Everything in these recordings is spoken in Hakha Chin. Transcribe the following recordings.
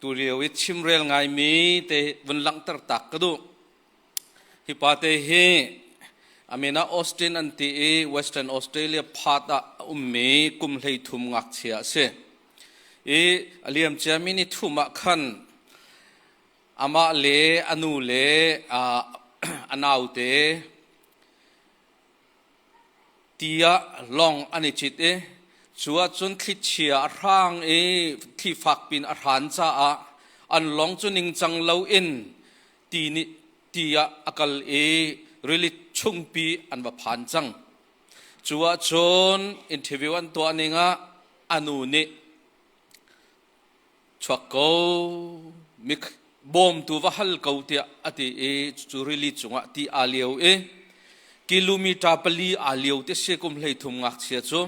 Tulio i chimrel ngaimi te vun langhter tak ka duh. Hi pate hi amen ah Austin an ti i Western Australia part ah a ummi kum hleithum ngakchia a si. I a liamciami ni thum ah khan amah le a nu le a naute ti ah lawng an i cit i cu ahcun thlichia a hrang i thli fak piin a hran caah an lawng cu ningcang loin ti, nih, ti ah a kal i rili chungpi an va phan cang. Cu ahcun interview an tuah ning ah a nu nih chuak ko bawmtu va hal ko tiah a ti i cu rili cungah ti aa lio i kilometer pali aa lio ti si kum hlei thum ngakchia cu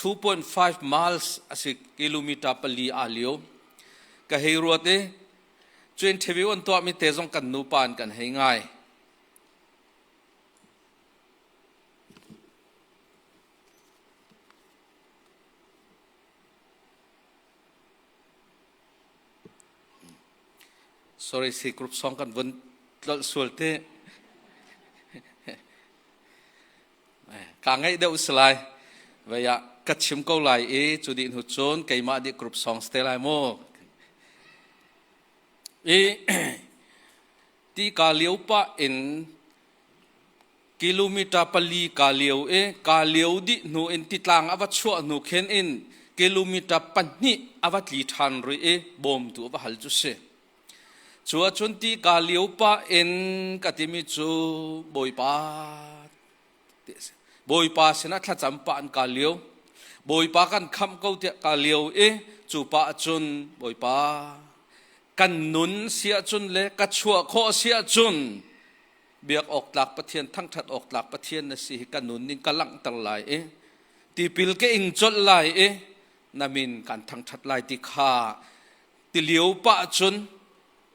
2.5 miles a si kilometer pali aa lio ka hei ruat i cu interview an tuahmi te zong kan nupa an kan hei ngai Sorry, si group song kan vun tlolh sual te. Ka ngai deuh si lai. Vaya ka chim ko lai i cu di hnu cun keimah di group songs te lai mu. I ti ka liu pa in kilometer pali kaa lio i kaa lio dih hnu in titlang a va chuah hnu khin in kilometer pahnih a va tli ṭhan rih i bawmtu a va hal cu si. Cu ahcun ti kaa lio pah in ka timi cu Bawipa ti a si. Bawipa sinah thlacam pah in kaa lio. Bawipa kan khamh ko tiah kaa lio i cu pa cun Bawipa kan nun si ahcun le ka chuah khawh si ahcun biak awk tlak pathian thangthat awk tlak pathian na si hi kan nun ning ka langhter lai i tipil ke ing colh lai i namin kan thangthat lai ti kha tilio pa cun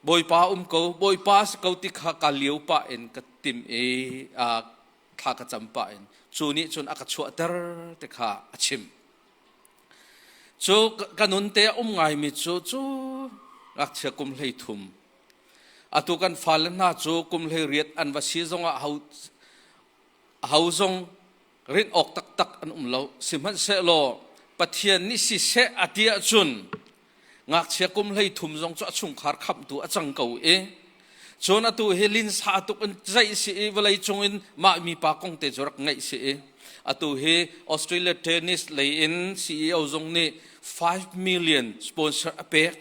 bawipa um ko bawipa si ko ti kha ka liu pa in ka tim i thla ka cam pa in cu nih cun a ka chuahter te kha a chim cu ka nun te um ngai mi cu cu ngakchia kum hlei thum Atu kan fale hna cu kum hleiriat an va si zongah ho, ho zong rinh awk taktak an um lo. Sihmanhsehlaw Pathian nih siseh a ti ahcun ngakchia kum hlei thum zong cu a chungkhar khamtu a cang ko i cun atu hi linsa tuk in zaih si i vawlei cung in mah mipa kong te cu rak ngaih si i atu hi Australia tennis lei in CEO zong nih 5 million sponsor a pek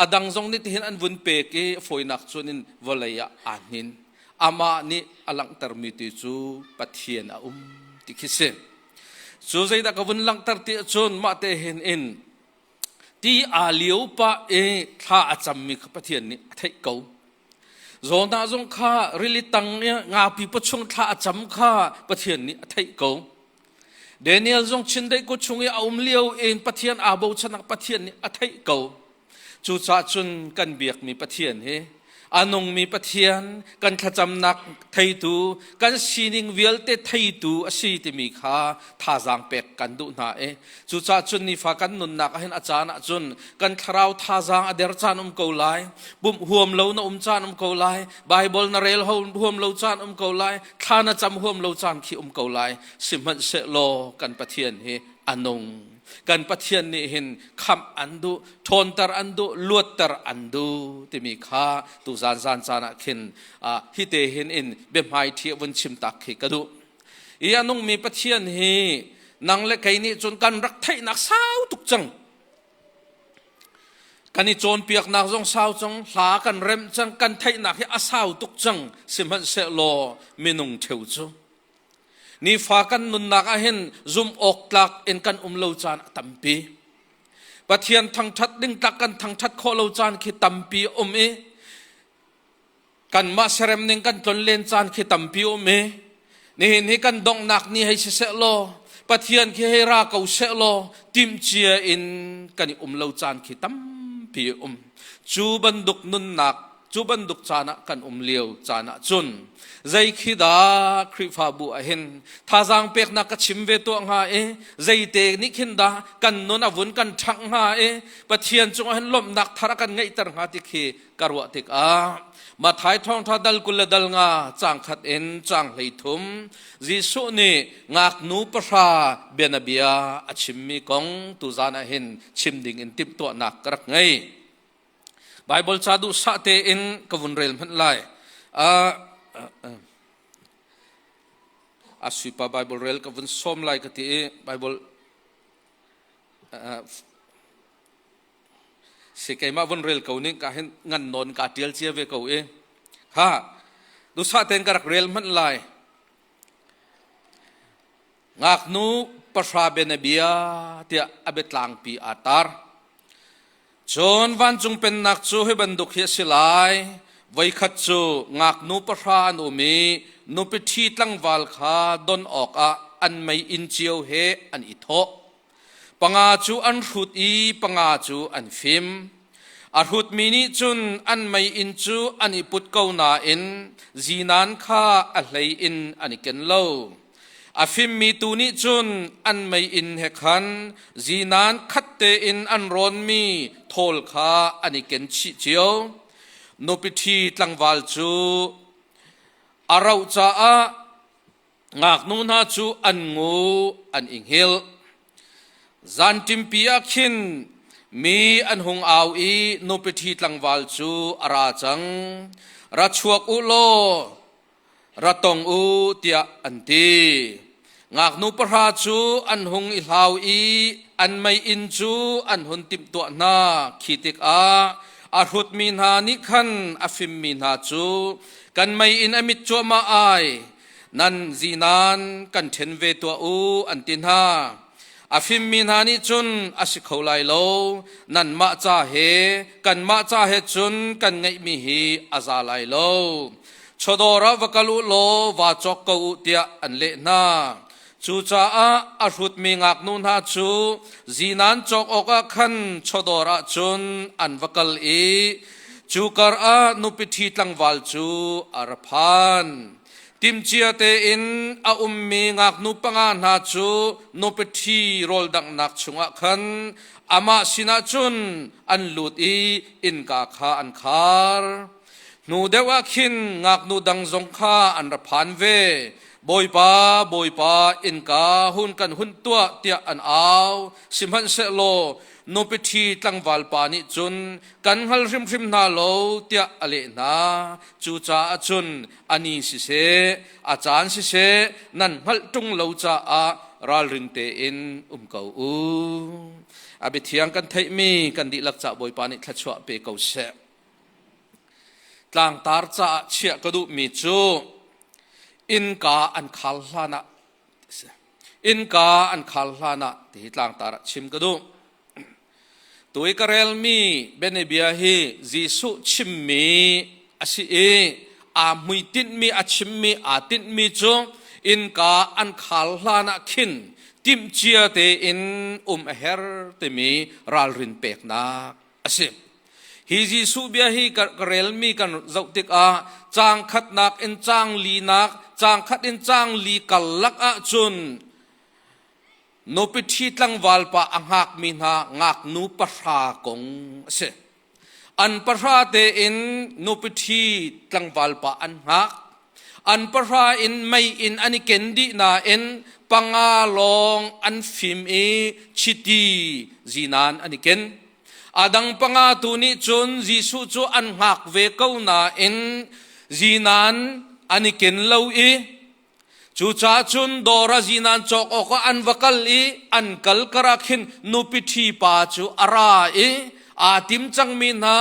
A dang zong nih tihin an vun pek i fawinak cun in vawlei ah aa hnin. Amah nih a langhtermi ti cu Pathian a um ti khi si. Cu zeidah ka vun langhter ti ahcun mahte hin in ti aa lio pah i thla a cammi kha Pathian nih a theih ko. Zawlnah zong kha rili tang i ngapi pachuang thla a cam kha Pathian nih a theih ko. Daniel zong chindeih kut chung i a um lio in Pathian aa bochanak Pathian nih a theih ko. Cucaah cun kan biakmi Pathian hi a nungmi Pathian, kan thlacamnak theitu, kan sining vialte theitu a si timi kha thazaang pek kan duh hna i Cucaah cun nifa kan nunnak ah hin a caan ah cun kan thlarau thazaang a der caan um ko lai. Pumh huam lo na um caan um ko lai. Baibal na rel huam lo caan um ko lai. Thla na cam huam lo caan khi um ko lai. Sihmanhsehlaw kan Pathian hi a nung. Kan Pathian nih hin kham an du, ṭhawnter an du, luatter an du timi kha tu zan zan caan ah khin hi te hin in biahmai ṭhi vun chim tak khi ka duh. i a nungmi pathian hi nang le kei nih cun kan rak theihnak sau tuk cang kan i cawnpiaknak zong sau cang hla kan remh cang kan theihnak hi a sau tuk cang sihmanhsehlaw minung theu cu nifa kan nunnak ah hin zum awk tlak in kan um lo caan a tampi pathian thangthat ding tlak kan thangthat khawh lo caan khi tampi um i kanmah serem ning kan tlon len caan khi tampi um i nihin hi kan donghnak ni hei siseh law pathian khi hei ra ko seh law timcia in kan i um lo caan khi tampi um cu bantuk nunnak cu bantuk caan ah kan um lio caan ah cun zei khi dah khrifabu ah hin thazang peknak ka chim ve tuah hnga i zeite nih khin dah kan nun a vun kan ṭhang hnga i pathian cung ah hin lawmhnak thar a kan ngeihter hnga ti khi ka ruah tikah Mathai thawngtha dal kul le dal nga cang khat in cang hlei thum Jesuh nih ngaknu pahra bianabia a chimmi kong tu zan ah hin chim ding in timhtuahnak ka rak ngei Bible ca duh sah tein ka vun rel hmanh lai uh, uh, uh. asuipa bible rel ka vun som lai ka ti i bible uh, si keimah vun rel ko ning ka hin ngan non ka tial cia ve ko i ha dusa ten ka rak rel hmanh lai ngaknu pasra benabia tiah abet tlangpi a tar cun vancung pennak cu hi bantuk hi a si lai voikhat cu ngaknu pahra an um i nupi ṭhi tlangval kha don awkah an mei in cio he an i thawh Panga cu an hrut i panga cu an fim. A hrutmi nih cun an mei in cu an i put ko nain zinan kha a hlei in an i ken lo. A fimmi tu nih cun an mei in he khan zinan khat tein an rawnmi thawl kha an i ken chih cio. Nupi ṭhi tlangval cu a rauh caah ngaknu hna cu an ngu an i hngilh zanṭimpi ah khin mi an hung au i nupiṭhi tlangval cu a ra cang ra chuak u law ra tong u tiah an ti ngaknu pahra cu an hung i hlau i an mei inn cu an hun timhtuah hna khi tikah a hrutmi hna nih khan a fimmi hna cu kan mei in a mit cuahmah ai nan zinan kan ṭhen ve tuah u an ti hna a fimmi hna nih cun a si kho lai lo nanmah ca he kanmah ca he cun kan ngeihmi hi a za lai lo chawdawr ah va kal u law va cawk ko u tiah an leh hna Cucaah a hrutmi ngaknu hna cu zinan cawk awkah khan chawdawr ah cun an va kal i cu karah nupi ṭhi tlangval cu a ra phan. Timcia tein a ummi ngaknu panga hna cu nupi ṭhi rawldanghnak chungah khan amah sinah cun an lut i innka kha an khar. Hnu deuh ah khin ngaknu dang zong kha an ra phan ve. Bawipa, Bawipa, innka hun kan hun tuah tiah an au. Sihmanhsehlaw nupi ṭhi tlangval pa nih cun kan hngal hrimhrim hna lo tiah a leh hna. Cucaah cun a ni siseh, a caan siseh nan hngalh ṭung lo caah ralring tein um ko u. A biathiang kan theihmi kan dihlak ca Bawipa nih thluachuah pe ko seh. Tlangtar caah chiah ka duhmi cu innka an khal hlan ah innka an khal hlan ah tihi tlangtar ah chim ka duh. Tu i ka relmi bianabia hi Jesuh chimmi a si i aa hmui tinhmi, a chimmi, aa tinhmi cu innka an khal hlan ah khin timhcia tein um a her timi ralrin peknak a si. Hi Jesuh bia hi ka relmi kan zoh tikah caang khatnak in caang linak, caang khat in caang li karlak ahcun nupi ṭhi tlangval pa a ngakmi hna ngaknu pahra kong a si. An pahra tein nupi ṭhi tlangval pa an ngak. An pahra in mei in an i ken dih nain panga lawng an fim i chiti zinan an i ken. A dang panga tu nih cun Jesuh cu an hngak ve ko nain zinan an i ken lo i cucaah cun dawr ah zinan cawk awkah an va kal i an kal karah khin nupi ṭhi pa cu a ra i aa tim cangmi hna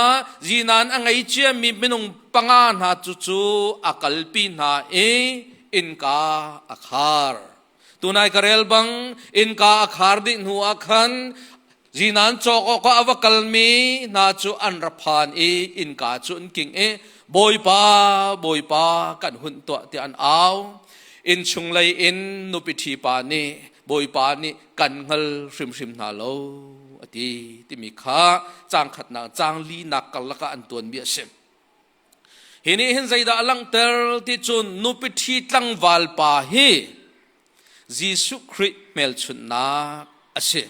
zinan a ngei ciami minung panga hna cucu a kalpi hna i innka a khar tunai ka rel bang innka a khar dih hnu ah khan zinan cawk awk ah a va kalmi hna cu an ra phan i innka cu an king i bawipa bawipa kan hun tuah tiah an au innchung lei in nupi ṭhipa nih bawipa nih kan hngal hrimhrim hna lo a ti timi kha cang khatnak cang linak karlak ah an tuanmi a si hi nih hin zeidah a langhter ti cun nupi ṭhi tlangval pa hi Jesuh Khrih hmelchunhnak a si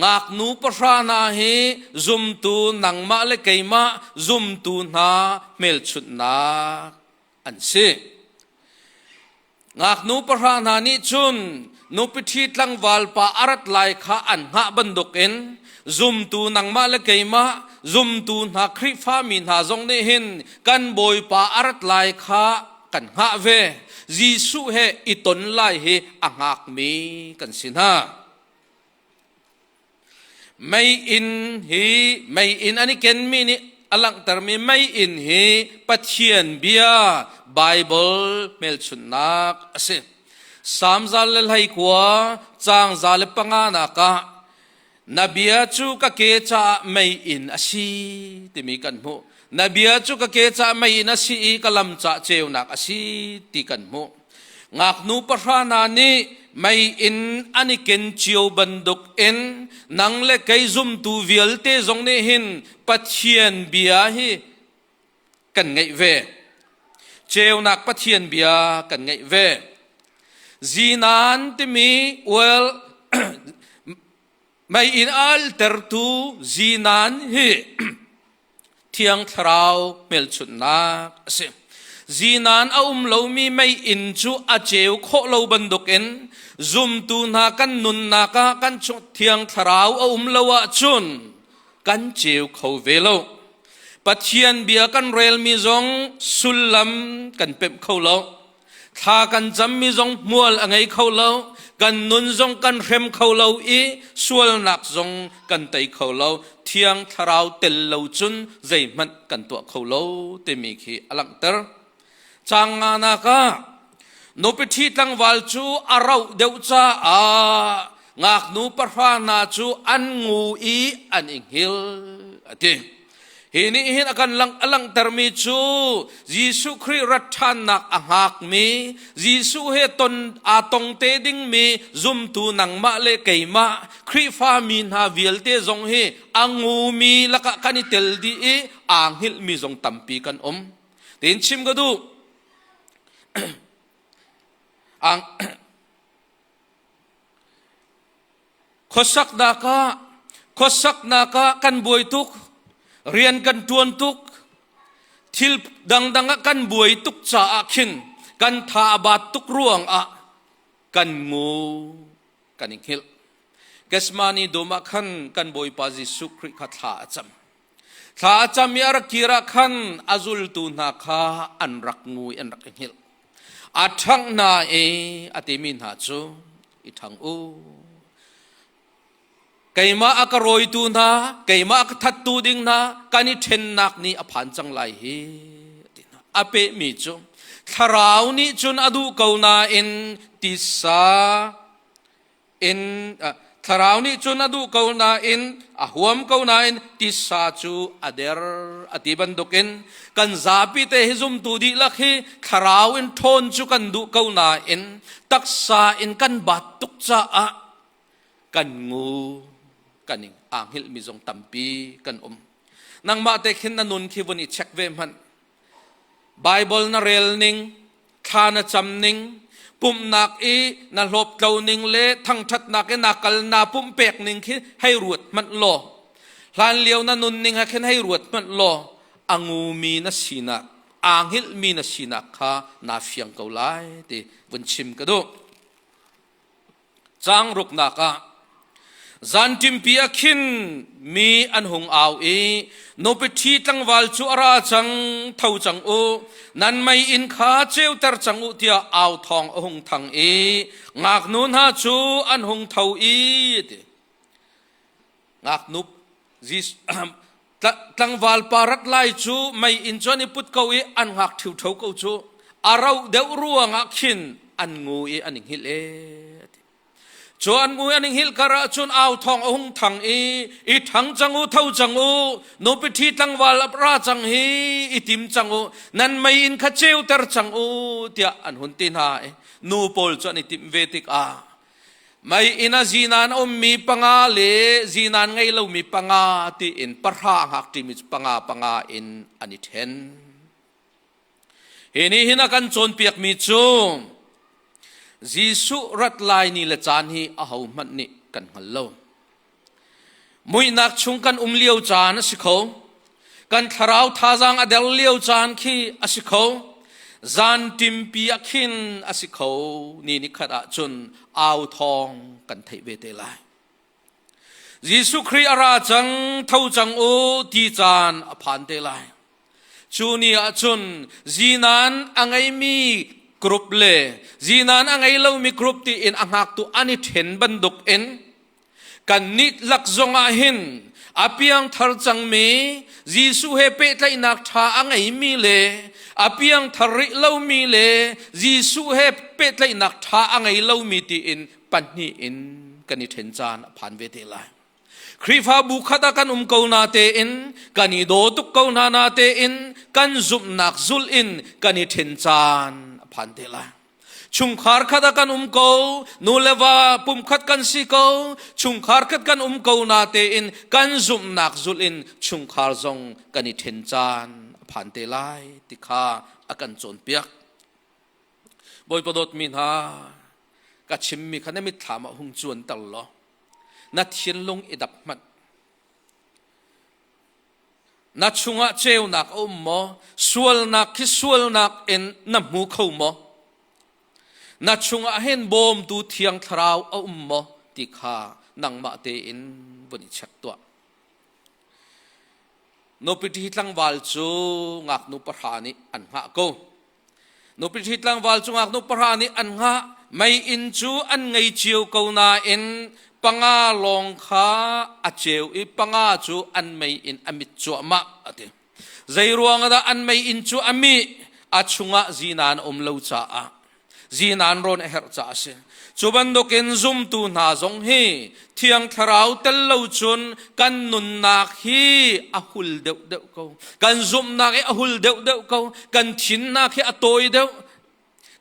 ngaknu pahra hna hi zumtu nangmah le keimah zumtu hna hmelchunhnak an si. Ngaknu pahra hna nih cun nupiṭhi tlangval pa a rat lai kha an hngah bantuk in zumtu nangmah le keimah zumtu hna Khrihfami hna zong nih hin kan bawipa a rat lai kha kan hngah ve Jesuh he i ton lai hi a hngakmi kan si hna Meiinn hi meiinn an i kenmi nih a langhtermi meiinn hi Pathian bia Baibal hmelchunhnak a si. Salm zal le hleikua, caang za le panganak ah na bia cu ka ke caah meiinn a si timi kan hmuh. Na bia cu ka ke caah meiinn a si i ka lam caah ceunak a si ti kan hmuh. Ngaknu pahra hna nih mei in an i ken cio bantuk in nang le kei zumtu vialte zong nih hin Pathian bia hi kan ngaih ve. Ceunak Pathian bia kan ngaih ve. Zinan timi ual mei in altertu zinan hi thiang thlarau hmelchunhnak a si zinan a um lomi mei in cu a ceu khawh lo bantukin zumtu hna kan nunnak ah kan thiang thlarau a um lo ahcun kan ceu kho ve lo pathian bia kan relmi zong sullam kan pemh kho lo Thla kan cammi zong hmual a ngei kho lo. Kan nun zong kan hrem kho lo i sualnak zong kan tei kho lo. Thiang thlarau tel lo cun zeihmanh kan tuah kho lo timi khi a langhter. Cang nga nak ah nupiṭhi tlangval cu a rauh deuh caah ngaknu pahra hna cu an ngu i an i hngil a ti. Hi nih hin a kan langhtermi cu Jesuh Khrih rat ṭhannak a hngakmi, Jesuh he ton aa tong te dingmi zumtu nangmah le keimah Khrihfa mi hna vialte zong hi a ngumi lakah kan i tel dih i aa hngilhmi zong tampi kan um. Tiin chim ka duh. Khuasaknak ah khuasaknak ah kan buai tuk, rian kan ṭuan tuk, thil dangdang ah kan buai tuk caah khin kan tha a baat tuk ruang ah kan ngu kan i hngilh. Kesmani dum ah khan kan Bawipa Jesuh Khrih kha thla a cam. Thla a cam i a rak kir ah khan a zultu hna kha an rak ngu i an rak i hngilh. A ṭhangh hna i a timi hna cu, i ṭhang u. Keimah a ka rawitu hna, keimah a ka thattu ding hna, kan i ṭhennak ni a phan cang lai hi, a ti hna. A pehmi cu, thlarau nih cun a duh ko nain tisa in thlarau nih cun a duh ko nain a huam ko nain tisa cu a der a ti bantukin kan zapi te hi zumtu dihlak hi thlarau in ṭhawn cu kan duh ko nain taksa in kan bat tuk caah kan ngu kan ing aa hngilhmi zong tampi kan um nangmah te khin na nun khi vun i check ve hmanh Baibal na rel ning, thla na cam ning, pumhnak i na hlawp tlo ning le thangṭhatnak i na kal naa pumpek ning khi hei ruat hmanh law, hlanlio na nunning ah khin hei ruat hmanh law, a ngumi na sinak, aa hngilhmi na sinak kha naa fiang ko lai ti vun chim ka duh. Caang ruknak ah zanṭimpi ah khin mi an hung au i nupiṭhi tlangval cu a ra cang tho cang u nan mei inn kha ceuter cang u tiah au thawng a hung thang i ngaknu hna cu an hung tho i ti ngaknup tlangvalpa rat lai cu mei in cun i put ko i an ngak ṭhiuṭho ko cu a ro deuh ruangah khin an ngu i an i hngilh e cu an ngu an hngilh kar ah cun au thong a hung thang i i thang cang u tho cang u nupi ṭhi tlangval a ra cang hi i tim cang u nan mei in kha ceuter cang u tiah an hun ti hna i nu pawl cu an i tim ve tikah Mei inn a zinan ummi panga le zinan ngei lomi panga tiin pahra ngak ṭimi cu panga panga in an i ṭhen. Hi nih hin a kan cawnpiakmi cu Jesuh rat lai ni le caan hi ahohmanh nih kan hngal lo. Muihnak chung kan um lio caan a si kho. Kan thlarau thazaang a der lio caan khi a si kho. Zan timpi a khin a si kho. Ni ni khat ah cun au thawng kan theih ve te lai. Jesuh Khrih a ra cang, tho cang u ti caan a phan te lai. Cu ni ah cun zinan a ngeimi group le zinan a ngei lomi group tiin a ngaktu an i ṭhen bantuk in Kan nitlak zongah hin a piangthar cangmi Jesuh he pehtlaihnak ṭha a ngeimi le a piangthar rih lomi le Jesuh he pehtlaihnak ṭha a ngei lomi tiin pahnih in kan i ṭhen caan a phan ve te lai. Khrihfabu khat ah kan um ko na tein kan i daw tuk ko hna na tein kan zumhnak zulh in kan i ṭhen caan a phan te lai. chungkhar khat ah kan um ko nu le va pumkhat kan si ko chungkhar khat kan um ko na tein kan zumhnak zulh in chungkhar zong kan i ṭhen caan a phan te lai ti kha a kan cawnpiak bawipa dawtmi hna ka chimmi kha na mitthlam ah hung cuanter law na thinlung i dap hmanh Na chungah ceunak a um maw? Sualnak khi sualnak in na hmu kho maw? Na chungah hin bawmtu thiang thlarau a um maw ti kha nangmah tein vun i check tuah. Nupiti tlangval cu ngaknu pahra nih an hngah ko. nupi thli tlangval cungak nu pahra nih an ngah mei inn cu an ngei cio ko nain panga lawng kha a ceu i panga cu an mei in a mit cuahmah a ti zei ruang ah dah an mei inn cu a mih a chungah zinan a um lo caah zinan rawn a herh caah a si Cu bantukin zumtu hna zong hi thiang thlarau tel lo cun kan nunnak hi a hul deuhdeuh ko. Kan zumhnak hi a hul deuhdeuh ko. Kan thinnak hi a tawi deuh.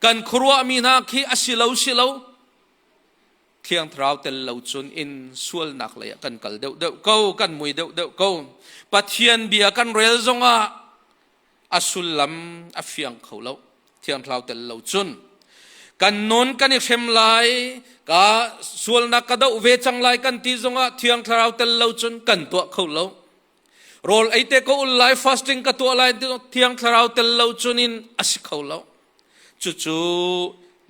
Kan khuaruahmi hna khi a si lo si lo. Thiang thlarau tel lo cun in sualnak lei ah kan kal deuhdeuh ko. Kan mui deuhdeuh ko. Pathian bia kan rel zongah a sullam a fiang kho lo thiangthlau tel lo cun kan nun kan i hrem lai ka sualnak ka doh ve cang lai kan ti zongah thiang thlarau tel lo cun kan tuah kho lo rawl eite ko ul lai fasting ka tuah lai thiang thlarau tel lo cun in a si kho lo Cucu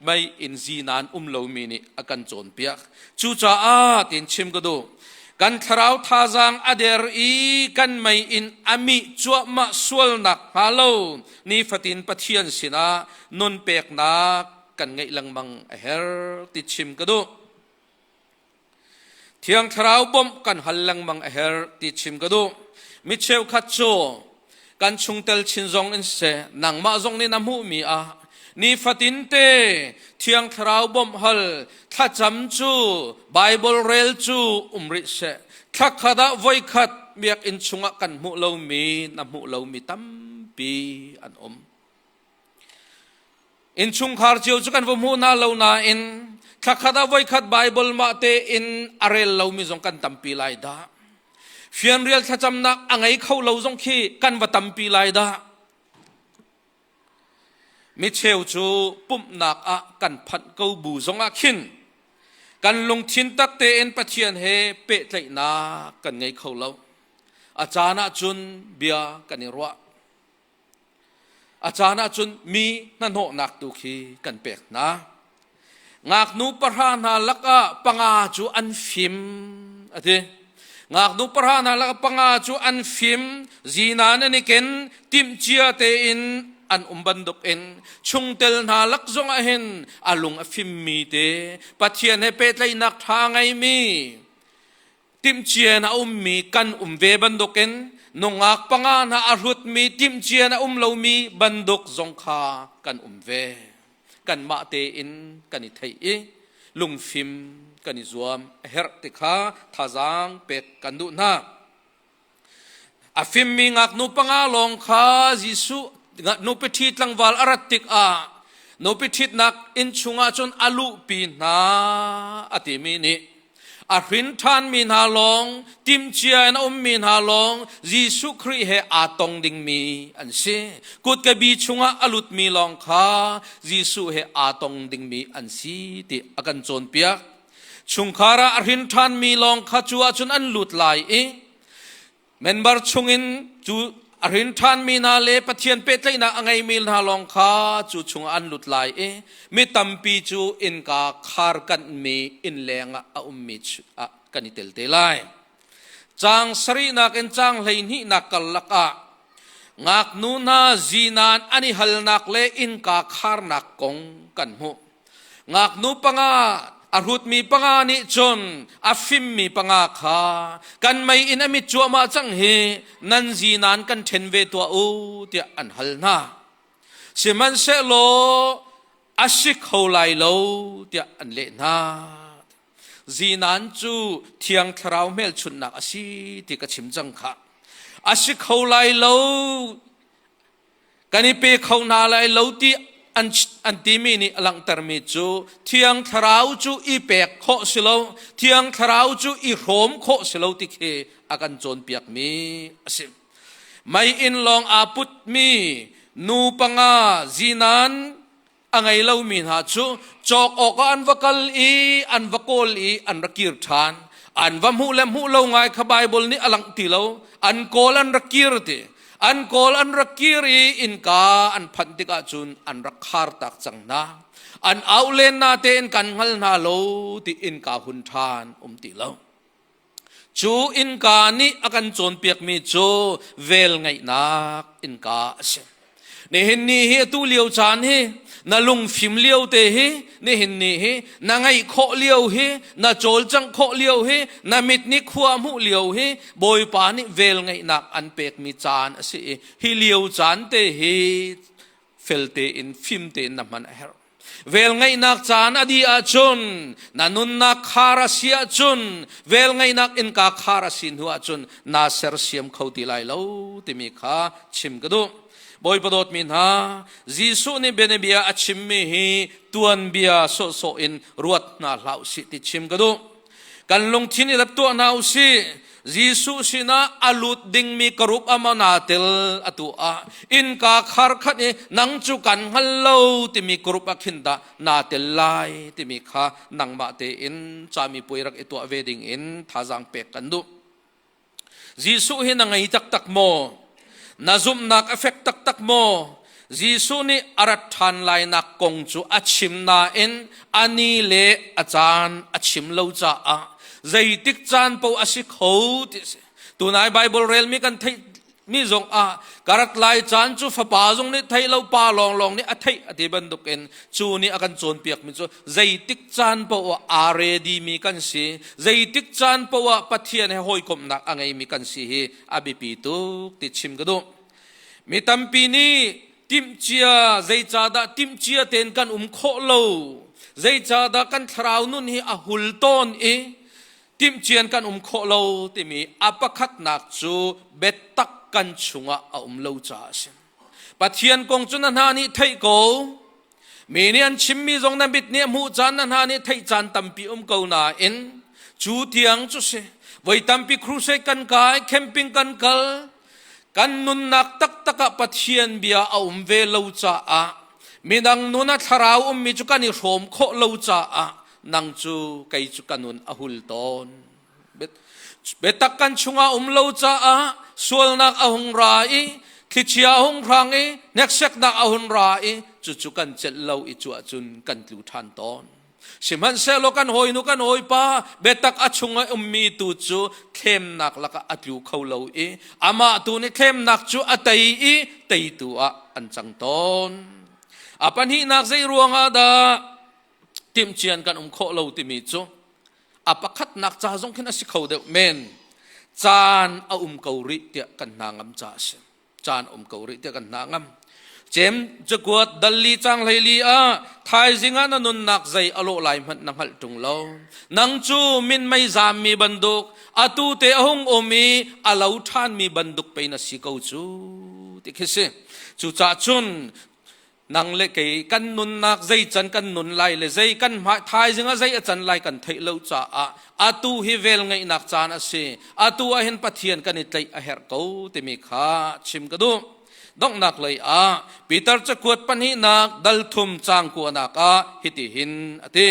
mei in zinan um lomi nih a kan cawnpiak. Cucaah tiin chim ka duh. Kan thlarau thazaang a der i kan mei in a mih cuahmah sualnak hnga lo nifatin Pathian sinah nun peknak kan ngeih lengmang a herh ti chim ka duh. Thiang Thlarau bawmh kan hal lengmang a herh ti chim ka duh. Mi cheukhat cu kan chungtel chin zong in si, nangmah zong nih na hmuhmi ah nifatin te Thiang Thlarau bawmh hal thlacam cu Bible rel cu um rih seh. Thlakhat ah voikhat biakinn chungah kan hmuh lomi na hmuh lomi tampi an um. Innchungkhar cio cu kan va hmuh hna lo nain thlakhat ah voikhat Baibal mah tein a rel lomi zong kan tampi lai dah. Fianrial thlacamnak a ngei kho lo zong khi kan va tampi lai dah. Micheu cu pumhnak ah kan phanh ko bu zong ah khin kan lungthin tak tein Pathian he pehtlaihnak kan ngei kho lo. A caan ah cun bia kan i ruah. A caan ahcun mi hnahnawhnak tu khi kan pek hna. Ngaknu pahra hna lakah panga cu an fim, a ti. Ngaknu pahra hna lakah panga cu an fim. Zina nan i ken, timcia tein an um bantuk in chungtel hna lak zong ah hin a lung a fimmi te Pathian he pehtlaihnak ṭha ngeimi timhcian a ummi kan um ve bantukin nungak panga hna a hlutmi timhcian a um lomi bantuk zong kha kan um ve kanmah tein kan i theih i lungfim kan i zuam a herh ti kha thazaang pek kan duh hna A fimmi ngaknu panga lawng kha Jesuh nupi ṭhi tlangval a rat tikah nupi ṭhitnak inn chungah cun a luhpi hna a timi nih a hrin ṭhanmi hna lawng timcia in a ummi hna lawng Jesuh Khrih he aa tong dingmi an si. Kutkabi chungah a lutmi lawng kha Jesuh he aa tong dingmi an si ti a kan cawnpiak. Chungkhar ah a hrin ṭhanmi lawng kha cu ahcun an lut lai i member chungin cu a hrin ṭhanmi hna le Pathian pehtlaihnak a ngeimi hna lawng kha cu chungah an lut lai i mi tampi cu innka kharkanhmi inn lengah a ummi ah kan i tel te lai. Caang sarihnak in caang hleihnihnak karlak ah ngaknu hna zinan an i halnak le innka kharnak kong kan hmuh. ngaknu panga a hrutmi panga nih cun a fimmi panga kha kan mei in a mit cuahmah cang hi nan zi nan kan ṭhen ve tuah u tiah an hal hna sihmanhsehlaw a si kho lai lo tiah an leh hna zinan cu thiang thlarau hmelchunhnak a si ti ka chim cang khah a si kho lai lo kan i pe kho hna lai lo ti an timi nih a langhtermi cu thiang thlarau cu i pek khawh si lo thiang thlarau cu i hrawm khawh si lo ti khi a kan cawnpiakmi a si mei inn lawng aa putmi nu panga zinan a ngei lomi hna cu cawk awkah an va kal i an va kawl i an ra kir ṭhan an va hmuh le hmuh lo ngai kha Bible nih a langh ti lo an kawl an ra kir ti an kawl an ra kir i innka an phanh tikah cun an ra khar tak cang hna an au len na tein kan hngal hna lo ti innka hun ṭhan um ti lo Cu innka nih a kan cawnpiakmi cu velngeihnak innka a si. Nihin ni hi atu lio caan hi na lungfim lio te hi nihin ni hi na ngeih khawh lio hi na cawlcangh khawh lio hi na mit nih khua hmuh lio hi Bawipa nih velngeihnak an pekmi caan a si i hi lio caan te hi felte in fim tein na hman a herh. Velngeihnak caan a dih ahcun na nunnak khar a si ahcun velngeihnak innka khar a si hnu ahcun naa sersiam kho ti lai lo timi kha chim ka duh. Bawipa dawtmi hna, Jesuh nih bianabia a chimmi hi tuanbia sawhsawh in ruat hna hlah u sih ti chim ka duh. kan lungthin i rat tuah hna u si Jesuh sinah a lut dingmi ka rup amana tel atu ah innka khar khat i nang cu kan hngal lo timi ka rup ah khin dah naa tel lai timi kha nangmah tein cami puai rak i tuah ve ding in thazaang pek kan duh Jesuh hi na ngei taktak maw? Na zumhnak a fek taktak maw? Jesuh nih a rat ṭhan lainak kong cu a chim nain a ni le a caan a chim lo caah zeitik caan paoh a si kho ti a si. Tunai Baibal relmi kan theih mi zong ah karat lai caan cu fapa zong nih thei lo pa lawnglawng nih a theih a ti bantuk in cu nih a kan cawnpiak mi cu zeitik caan paoh ah aa ready mi kan si zeitik caan paoh ah pathian he hawikomhnak a ngei mi kan si hi a biapi tuk ti chim ka duh mi tampi nih timhcia zeicadah timhcia ten kan um khawh lo zeicadah kan thlarau nun hi a hul tawn i timhcian kan um khawh lo timi a pakhatnak cu biatak kan chungah a um lo caah a si pathian kong cu na hna nih theih ko mi nih an chimmi zong na mit nih hmuh caan na hna nih theih caan tampi um ko nain cu tiang cu si voi tampi crusade kan kai camping kan kal kan nunnak taktak ah Pathian bia a um ve lo caah midang nun a thlarau ummi cu kan i hrawm khawh lo caah nang cu kei cu ka nun a hul tawn biatak kan chungah um lo caah sualnak a hung ra i thlichia a hung hrang i hnekseknak a hun ra i cucu kan celh lo i cuah cun kan tlu ṭhan tawn Sihmanhsehlaw kan hawinu kan hawipa biatak a chung i ummi tu cu thlemnak lakah a tlu kho lo i amah tu nih thlemnak cu a tei i teitu ah an cang tawn. A pahnihnak zei ruangah dah timhcian kan um khawh lo timi cu a pakhatnak ca zong khin a si kho deuh men caan a um ko rih tiah kan hna ngam ca a si. caan um ko rih tiah kan hna ngam cem cakuat dalli cang hleili ah thaizing ah na nunnak zei alo lai hmanh na hngalh tung lo nang cu min mei zam mi banduk atu te a hung um i a lo than mi banduk pe na si ko cu ti khi si cu cah chun nang le kei kan nunnak zei can kan nun lai le zei kan thaizing ah zei a can lai kan theih lo caah atu hi vel ngeihnak caan a si atu ah hin pathian kan i tlaih a herh ko timi kha chim ka duh donghnak lei ah Peter cakuat pahnihnak dalthum cang kuanak ah hiti hin a ti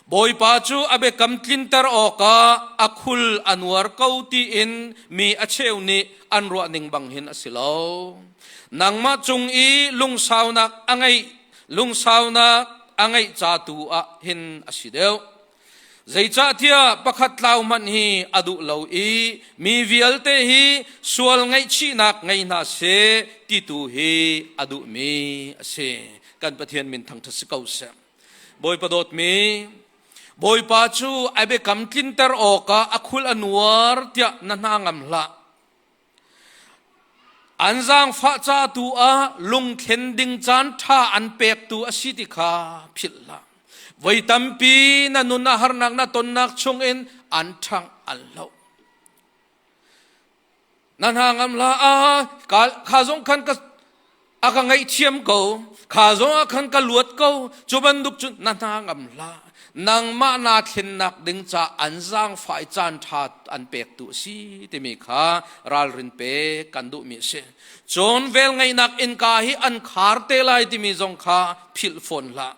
Bawipa cu a biakam tlinter awkah a khul a nuar ko tiin mi a cheu nih an ruah ning bang hin a si lo nangmah cung i lungsaunak a ngeih lungsaunak a ngeih ca tu ah hin a si deuh zeicahtiah pakhat tlau hmanh hi a duh lo i mi vialte hi sual ngaihchihnak ngei hna se ti tu hi a duhmi a si kan pathian min thangthat si ko seh bawipa dawtmi bawipa cu a biakam tlinter awkah a khul a nuar tiah na hna ngam hlah An zaangfah ca tu ah lungthlen ding caan ṭha an pektu a si ti kha philh hlah. Voi tampi na nun a harnak na tonnak chungin an ṭhang an lo. Na hna ngam hla ah kha zong khan ka a ka ngaihthiam ko kha zong ah khan ka luat ko cu bantuk cun na hna ngam hlah nangmah na thlennak ding ca an zaangfai caan ṭha an pektu a si timi kha ralrin pek kan duhmi a si cun velngeihnak innka hi an khar te lai timi zong kha philh fawn hlah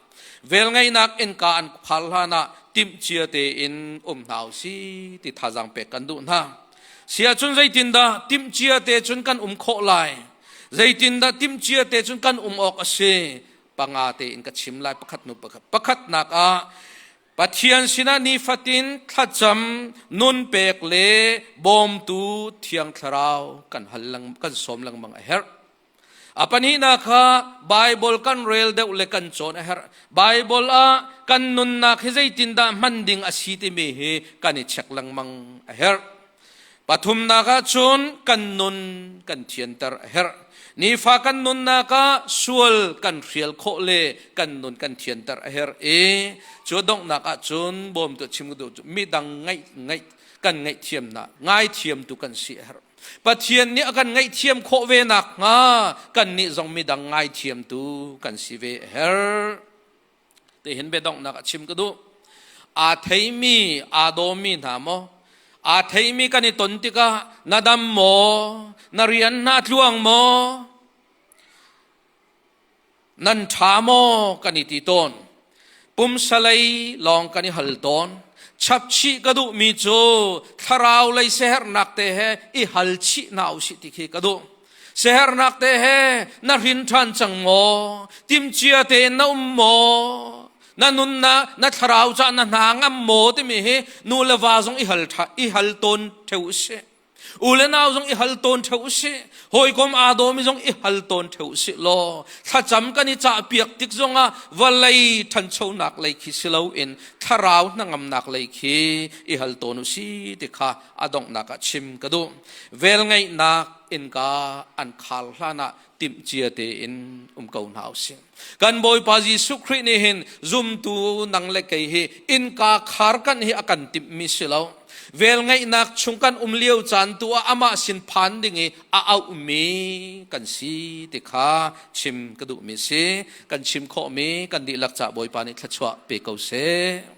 velngeihnak innka an phal hlan ah timhcia tein um hna u si ti thazaang pek kan duh hna sia cun zeitindah timhcia te cun kan um khawh lai Zeitindah timcia te cun kan um awk a si panga tein ka chim lai pakhat nu pakhat pakhatnak ah Pathian sinah nifatin thlacam nun pek le bawmtu thiang thlarau kan hal kan som lengmang a herh a panihna kha Bible kan rel deuh le kan cawn a herh Bible ah kan nunnak hi zeitindah hman ding a si timi hi kan i check lengmang a herh Pathumnak ah cun kan nun kan thianter a herh. Nifa kan nunnak ah sual kan hrial khawh le kan nun kan thianter a herh i cu donghnak ah cun bawm tu chim tu cu mi dang ngaih ngaih kan ngaih thiamnak ngai thiam tu kan si a herh. Pathian nih a kan ngaih thiam khawh ve nak hnga kan nih zong mi dang ngai thiam tu kan si ve a herh. tihin biadonghnak a chim ka duh aa theimi aa dawmi hna maw aa theimi kan i ton tikah na dam maw na rian hna tluang maw nan ṭha maw kan i ti tawn pumsalei lawng kan i hal tawn chapchih ka duhmi cu thlarau lei sehernak te he i hal chih hna u si ti khi ka duh Siaherhnak te he na hrin ṭhan cang maw? Timcia tein na um maw? Na nun na na thlarau ca na hna ngam maw timi hi nu le va zong i hal i hal tawn theo u si. U le nau zong i hal tawn theo u si. Hawikom aa dawmi zong i hal tawn theo u si law thlacam kan i cah piak tik zongah valei ṭhanchonak lei khi si loin thlarau hnangamnak lei khi i hal tawn u si ti kha a donghnak ah chim ka duh velngeihnak innka an khar hlan ah timhcia tein um ko hna usih kan bawipa jesuh khrih nih hin zumtu nang le kei hi innka khar kan hi a kan timhmi si lo velngeihnak chung kan um lio caan tu ah amah sin phan ding i a auhmi kan si ti kha chim ka duhmi si kan chim khawhmi kan dihlak ca bawipa nih thlachuah pe ko seh